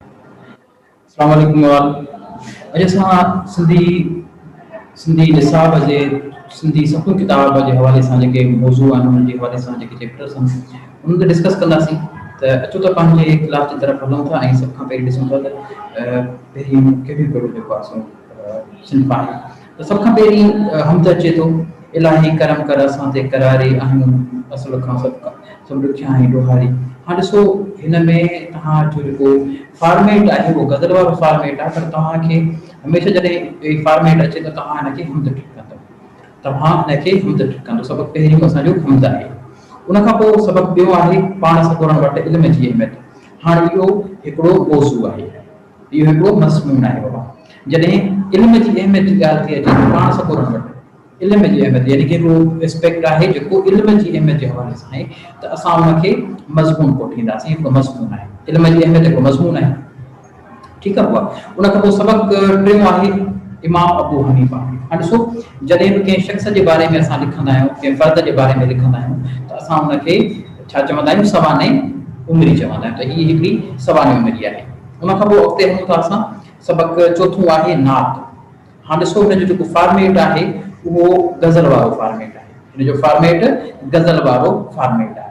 اسلام عليڪم وال اڄ اسان سنڌي سنڌي نصاب جي سنڌي سکو ڪتاب جي حوالي سان جيڪي موضوع آهن انهن جي حوالي سان جيڪي چيپٽرس آهن انهن تي ڊسڪس ڪنداسين ته اچو ته پنهنجي ڪلاس جي طرف هلون ٿا ۽ سڀ کان پهرين ڏسون ٿا ته پهريون ڪهڙو ڪهڙو جيڪو آهي سو صنف آهي ته سڀ کان پهرين حمد اچي ٿو، الاهي ڪرم ڪر اسان تي قراري اهنون اصل کان سڀ کان سڀ ڏکيا ۽ ڏوهاري. هاڻ ڏسو هن ۾ تهان جو جيڪو فارميٽ آهي اهو غزل وارو فارميٽ آهي پر توهان کي هميشه جڏهن هي فارميٽ اچي ته توهان هن کي حمد ٽڪندو توهان هن کي حمد ٽڪندو سبق پهريون اسان جو حمد آهي ان کان پوء سبق ٻيو آهي پاڻ سپورڻ وٽ علم جي اهميت هاڻ اهو هڪڙو موضوع آهي. اهو هڪڙو مضمون آهي بابا. جڏهن علم جي اهميت جي ڳالهه ٿئي اچي ته پاڻ سڳورن وٽ علم جي اهميت يعني ڪي به اسپيڪٽ آهي جيڪو علم جي اهميت جي حوالي سان آهي ته اسان ان کي مضمون ڪوٺينداسين. هڪڙو مضمون آهي. علم جي اهميت هڪڙو مضمون آهي. ٺيڪ آهي بابا. ان کان پوء سبق ٽيون آهي امام ابو حنيفه. هاڻي ڏسو جڏهن به ڪنهن شخص جي باري ۾ اسان لکندا آهيون ڪنهن فرد جي باري ۾ لکندا آهيون ته اسان ان کي ڇا چوندا آهيون سوانح عمري چوندا آهيون ته هي هڪڙي سوانح عمري آهي ان کان پوء اڳتي هلون ٿا اسان سبق چوٿون آهي نعت هاڻ ڏسو هن جو جيڪو فارميٽ آهي اهو غزل وارو فارميٽ آهي هن جو فارميٽ غزل وارو فارميٽ آهي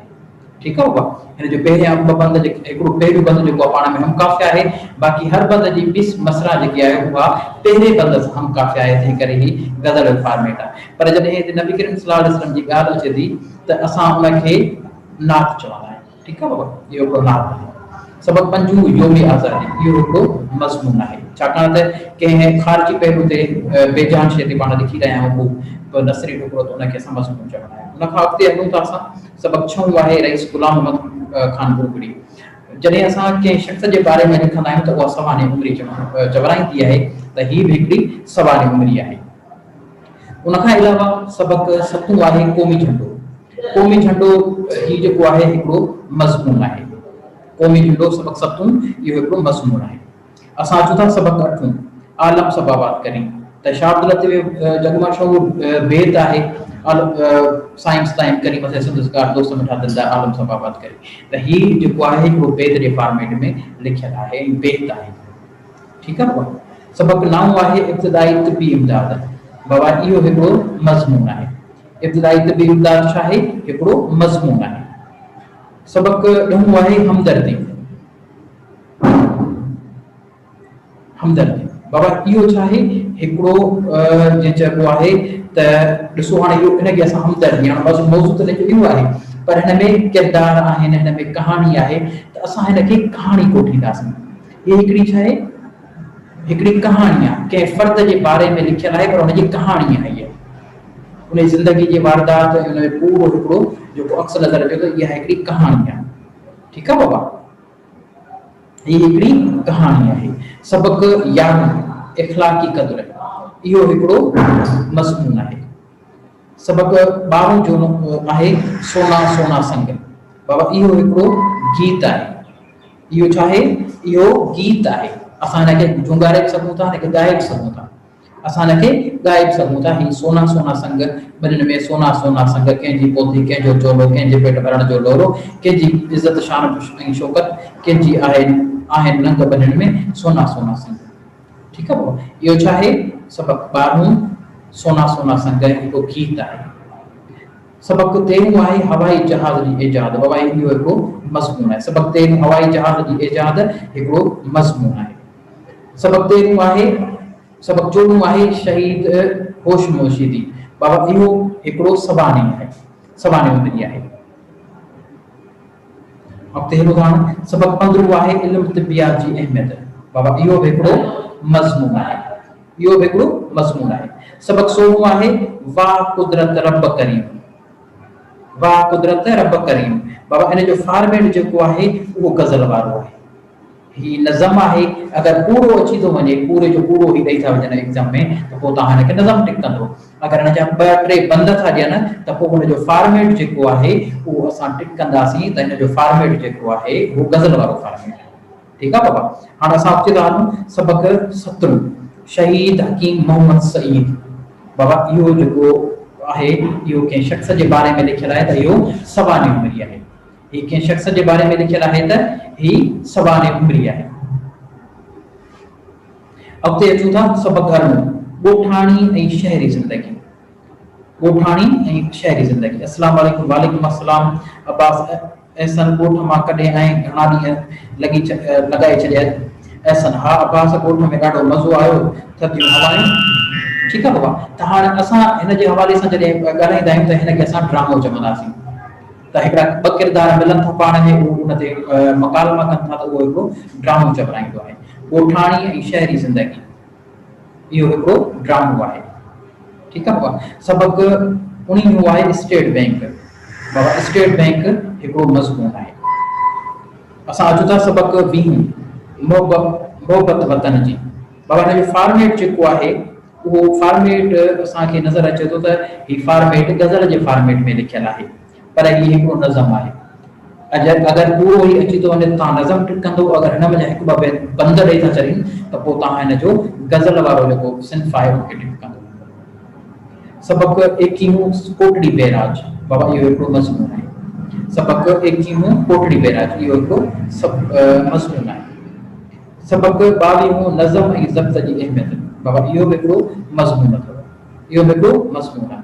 ٺيڪ آهي اها هن جو پهريان ٻه بند جيڪي هڪڙو پهريون بند جيڪو پاڻ ۾ هم قافيه آهي باقي هر بند جي ٻي مصرع جيڪي آهي اها پهرين بند سان هم قافيه آهي تنهن ڪري هي غزل جو فارميٽ آهي پر جڏهن هتي نبي ڪريم صلي الله عليه وسلم جي ڳالهه اچي ٿي ته اسان ان کي نعت چوندا آهيون ٺيڪ آهي بابا اهو هڪڙو نعت آهي سبق پنجون يوم آزادي اهو هڪڙو مضمون آهي ڇاڪاڻ ته ڪنهن خارجي پهلو تي بي جان شيء تي پاڻ لکي رهيا آهيون هو به نثري ٽڪرو ته ان کي اسان مضمون چوندا آهيون ان کان اڳتي هلون ٿا اسان سبق ڇهون آهي رئيس غلام محمد خان ڀوڳڙي جڏهن اسان ڪنهن شخص جي باري ۾ لکندا آهيون ته اها سوانح عمري چورائيندي آهي ته هي به هڪڙي سوانح عمري آهي ان کان علاوه سبق ستون آهي قومي جهنڊو. قومي جهنڊو هي جيڪو آهي هڪڙو مضمون آهي. قومي جهنڊو سبق ستون اهو هڪڙو مضمون آهي. اسان اچون ٿا سبق اٺون، عالم سب آباد ڪرين ته شاهه عبداللطيف جو جڳ مشهور بيت آهي سائين ستائين ڪرين مٿي سندسگار دوست مٺا دل ڏا عالم سب آباد ڪرين ته هي جيڪو آهي هڪڙو بيت جي فارميٽ ۾ لکيل آهي ۽ بيت آهي. ٺيڪ آ پوء سبق نائون آهي ابتدائي طبي امداد بابا اهو هڪڙو مضمون آهي ابتدائي طبي امداد ڇا آهي هڪڙو مضمون آهي سبق ڏهون آهي همدردي همدردي بابا اهو ڇا آهي هڪڙو جي چئبو آهي ته ڏسو هاڻي اهو ان کي اسان همدردي هاڻ بس موضوع ته لکيو اهو آهي پر هن ۾ ڪردار آهن هن ۾ ڪهاڻي آهي ته اسان هن کي ڪهاڻي ڪوٺينداسين هي هڪڙي ڇا آهي؟ هڪڙي ڪهاڻي آهي. ڪنهن فرد جي باري ۾ لکيل آهي پر ان جي ڪهاڻي آهي اها. ان جي زندگي جي واردات ۽ ان جو پورو هڪڙو جيڪو عڪس نظر اچي ٿو اها هڪڙي ڪهاڻي آهي. ٺيڪ آهي بابا؟ هي هڪڙي ڪهاڻي آهي. سبق يارهون، اخلاقي قدر، اهو هڪڙو مضمون آهي. سبق ٻارهون جو آهي سونا سونا سنگ. بابا اهو هڪڙو گيت آهي. اهو ڇا آهي؟ اهو گيت آهي. اسان هن کي جهونگاري به سگهون ٿا هن کي ڳائي به سگهون ٿا. اسان هن کي ڳائي به سگهون ٿا هي سونا سونا سنگ ٻنين ۾ سونا سونا سنگ ڪنهن جي پوٿي ڪنهن جو چولو ڪنهن جي پيٽ ڀرڻ جو لولو ڪنهن جي عزت شان ۽ شوڪت ڪنهن جي آهي آهن ننگ ٻنين ۾ سونا سونا سنگ. ٺيڪ آ بابا اهو ڇا آهي؟ سبق ٻارهون سونا سونا سنگ هڪ گيت آهي سبق تيرهون آهي هوائي جهاز جي ايجاد بابا اهو هڪ مضمون آهي سبق تيرهون هوائي جهاز جي ايجاد هڪڙو مضمون آهي سبق تيرهون آهي سبق چوڏهون آهي شهيد هوش موشيدي بابا اهو هڪڙو سوانح آهي سوانح هوندي آهي. اڳتي هلو هاڻ سبق پندرهون آهي علم طبيات جي اهميت بابا اهو به هڪڙو مضمون آهي اهو به هڪڙو مضمون آهي سبق سورهون آهي واه قدرت رب ڪريم واه قدرت رب ڪريم بابا ان جو فارميٽ جيڪو آهي اهو غزل وارو آهي هي نظم آهي اگر پورو اچي ٿو وڃي پوري جو پورو هي ڏئي ٿا وڃن ايگزم ۾ ته پوء توهان هن کي نظم ٽڪ ڪندو اگر هن جا ٻه ٽي بند ٿا ڏين ته پوء هن جو فارميٽ جيڪو آهي اهو اسان ٽڪ ڪنداسين ته هن جو فارميٽ جيڪو آهي اهو غزل وارو فارميٽ آهي ٺيڪ آهي بابا هاڻ اسان اچي ٿا هلون سبق ستون شهيد حڪيم محمد سعيد بابا اهو جيڪو آهي اهو ڪنهن شخص جي باري ۾ لکيل آهي ته اهو سوانح عمري آهي هي ڪنهن شخص جي باري ۾ لکيل آهي ته هي سوانح عمري آهي. اڳتي اچون ٿا سڀ ڳالهون ڳوٺاڻي ۽ شهري زندگي ڳوٺاڻي ۽ شهري زندگي اسلام عليڪم وعليڪم السلام عباس احسن ڳوٺ مان ڪڏهن آئين گهڻا ڏينهن لڳي لڳائي ڇڏيا احسن ها عباس ڳوٺ ۾ ڏاڍو مزو آيو ٿڌيون هوايون ٺيڪ آهي بابا ته هاڻي اسان هن جي حوالي سان جڏهن ڳالهائيندا آهيون ته هن کي اسان ڊرامو چونداسين ته هڪڙا ٻه ڪردار ملن ٿا پاڻ ۾ اهو ان تي مڪالما ڪن ٿا ته اهو هڪڙو ڊرامو چورائيندو آهي. ڳوٺاڻي ۽ شهري زندگي اهو هڪڙو ڊرامو آهي. ٺيڪ آهي بابا سبق اڻي هو آهي اسٽيٽ بينڪ بابا اسٽيٽ بينڪ هڪڙو مضمون آهي اسان اچون ٿا سبق ويهون محبت وطن جي بابا هن جو فارميٽ جيڪو آهي اهو فارميٽ اسان کي نظر اچي ٿو ته هي فارميٽ غزل جي فارميٽ ۾ لکيل آهي پر هي هڪڙو نظم آهي اجر اگر پورو هي اچي ٿو وڃي ته توهان نظم ٽڪ ڪندو اگر هن منجهان هڪ ٻه بيت بند ڏئي ٿا ڇڏين ته پوء توهان هن جو غزل وارو جيڪو صنف آهي ان کي ٽڪ ڪندو سبق ايڪيهون ڪوٽڙي بيراج بابا اهو هڪڙو مضمون آهي سبق ايڪيهون ڪوٽڙي بيراج اهو هڪڙو مضمون آهي سبق ٻاويهون نظم ۽ ضبط جي اهميت بابت اهو به هڪڙو مضمون اٿو. اهو به هڪڙو مضمون آهي.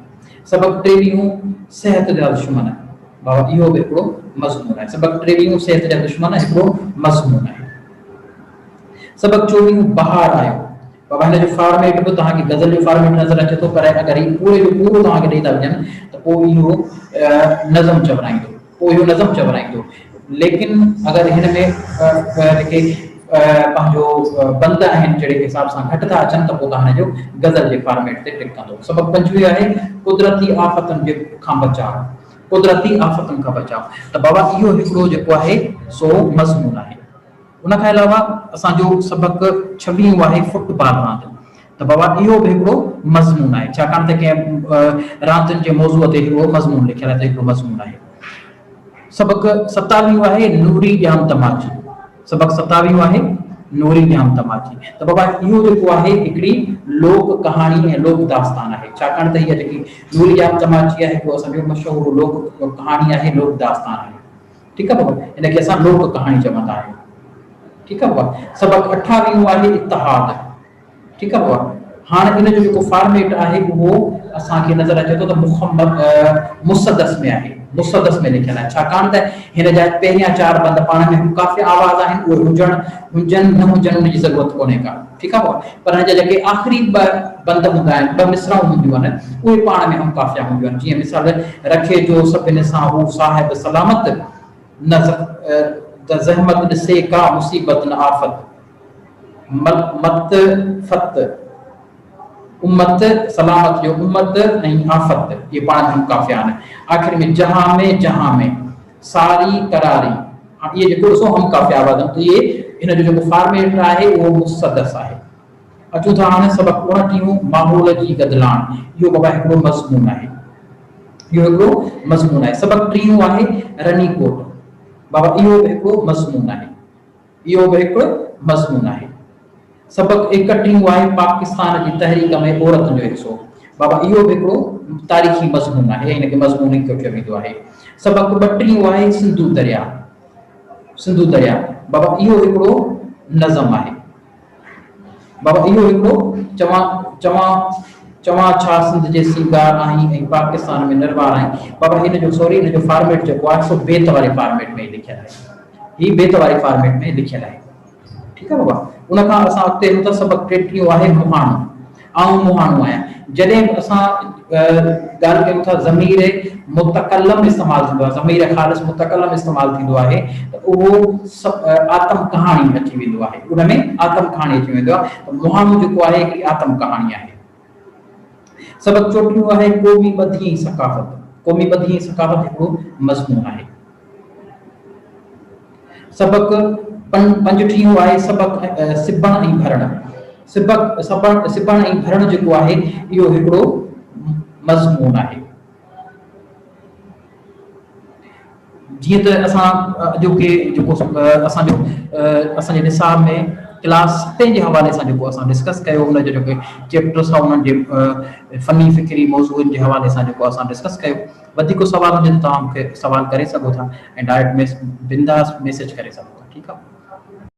سبق ٽيويهون صحت جا دشمن بابت اهو به هڪڙو مضمون آهي. سبق ٽيويهون صحت جا دشمن هڪڙو مضمون آهي. سبق چوويهون بهار آيو بابت هن جو فارميٽ به توهان کي غزل جو فارميٽ نظر اچي ٿو پر اگر هي پوري جو پورو توهان کي ڏئي ٿا وڃن ته پوء اهو نظم چورائيندو. پوء اهو نظم چورائيندو. ليڪن اگر هن ۾ جيڪي پنهنجو بند آهن جهڙي حساب سان گهٽ ٿا اچن ته پوء تهان جو غزل جي فارميٽ تي ٽڪ ڪندو. سبق پنجويهه آهي، قدرتي آفتن جي کان بچاء، قدرتي آفتن کان بچاء، ته بابا اهو هڪڙو جيڪو آهي سو مضمون آهي. ان کان علاوه اسان جو سبق ڇويهون آهي فٽ بال راند ته بابا اهو به هڪڙو مضمون آهي ڇاڪاڻ ته ڪنهن راندين جي موضوع تي هڪڙو مضمون لکيل آهي ته هڪڙو مضمون آهي سبق ستاويهون آهي نوري ڄام تماچي سبق ستاويهون آهي نوري ڄام تماچي ته بابا اهو جيڪو آهي هڪڙي لوڪ ڪهاڻي ۽ لوڪ داستان آهي ڇاڪاڻ ته هيء جيڪي نوري ڄام تماچي آهي اهو اسان جو مشهور لوڪ ڪهاڻي آهي لوڪ داستان آهي ٺيڪ آهي بابا ان کي اسان لوڪ ڪهاڻي چوندا آهيون ٺيڪ آهي بابا سبق اٺاويهون آهي اتحاد ٺيڪ آهي بابا هاڻ ان جو جيڪو فارميٽ آهي اهو اسان کي نظر اچي ٿو ته مخمد مسدس ۾ آهي مسدس ۾ لکيل آهي ڇاڪاڻ ته هن جا پهريان چار بند پاڻ ۾ ڪافي آواز آهن اهي هجڻ هجن نه هجن ان جي ضرورت ڪونهي ڪا ٺيڪ آهي ڀاء، پر هن جا جيڪي آخري ٻه بند هوندا آهن، ٻه مصرعون هونديون آهن، اهي پاڻ ۾ هم قافيه هونديون آهن، جيئن مثال، رکي جو سڀني سان هو صاحب سلامت، نه زحمت ڏسي ڪا مصيبت نه آفت، مت مت فت، امت سلامت جو امت ۽ آفت، اهي پاڻ ۾ هم قافيه آهن، آخر ۾ جهان ۾، جهان ۾. ساري قراري هاڻ اهي جيڪو ڏسو هم قافيه آباد آهن اهي ان جو جيڪو فارميٽ آهي اهو مسدس آهي اچون ٿا هاڻي سبق اڻٽيهون ماحول جي گدلاڻ اهو بابا هڪڙو مضمون آهي اهو هڪڙو مضمون آهي سبق ٽيهون آهي رني ڪوٽ بابا اهو به هڪڙو مضمون آهي اهو به هڪ مضمون آهي. سبق ايڪ ٽي يو آهي پاڪستان جي تحريڪ ۾ عورتن جو حصو بابا اهو به هڪڙو تاريخي مضمون آهي هن کي مضمون ايڪ ٺهيو ويندو آهي. سبق ٻه ٽي يو آهي سنڌو درياء سنڌو درياء بابا اهو هڪڙو نظم آهي. بابا اهو هڪڙو چوان چوان چوان ڇا سنڌ جي سينگار آهين ۽ پاڪستان ۾ نروار آهين بابا هن جو سوري هن جو فارميٽ جيڪو آهي سو بيت واري فارميٽ ۾ لکيل آهي هي بيت واري فارميٽ ۾ لکيل آهي ٺيڪ آهي بابا ان کان اسان اڳتي هلون ٿا سبق ٽيٽيهون آهي مهاڻو آئون مهاڻو آهيان. جڏهن به اسان ڳالهه ڪيون ٿا ضمير متڪلم استعمال ٿيندو آهي، ضمير خالص متڪلم استعمال ٿيندو آهي ته اهو آتم ڪهاڻي اچي ويندو آهي، ان ۾ آتم ڪهاڻي اچي ويندو آهي ته مهاڻو جيڪو آهي هڪڙي آتم ڪهاڻي آهي. سبق چوٽيون آهي قومي ٻڌي ۽ ثقافت، قومي ٻڌي ۽ ثقافت هڪڙو مضمون آهي. سبق، پن پنج ٺيهيون آهي سبق، سبڻ ۽ ڀرڻ. سبق، سبڻ سبڻ ۽ ڀرڻ جيڪو آهي اهو هڪڙو مضمون آهي. جيئن ته اسان اڄوڪي جيڪو اسان جو اسان جي نصاب ۾ ڪلاس ستين جي حوالي سان جيڪو اسان ڊسڪس ڪيو ان جو جيڪو چيپٽرس هئا انهن جي فني فڪري موضوعن جي حوالي سان جيڪو اسان ڊسڪس ڪيو وڌيڪ ڪو سوال هجي ته توهان مون کي سوال ڪري سگهو ٿا ۽ ڊائريڪٽ بنداس ميسيج ڪري سگهو ٿا ٺيڪ آ.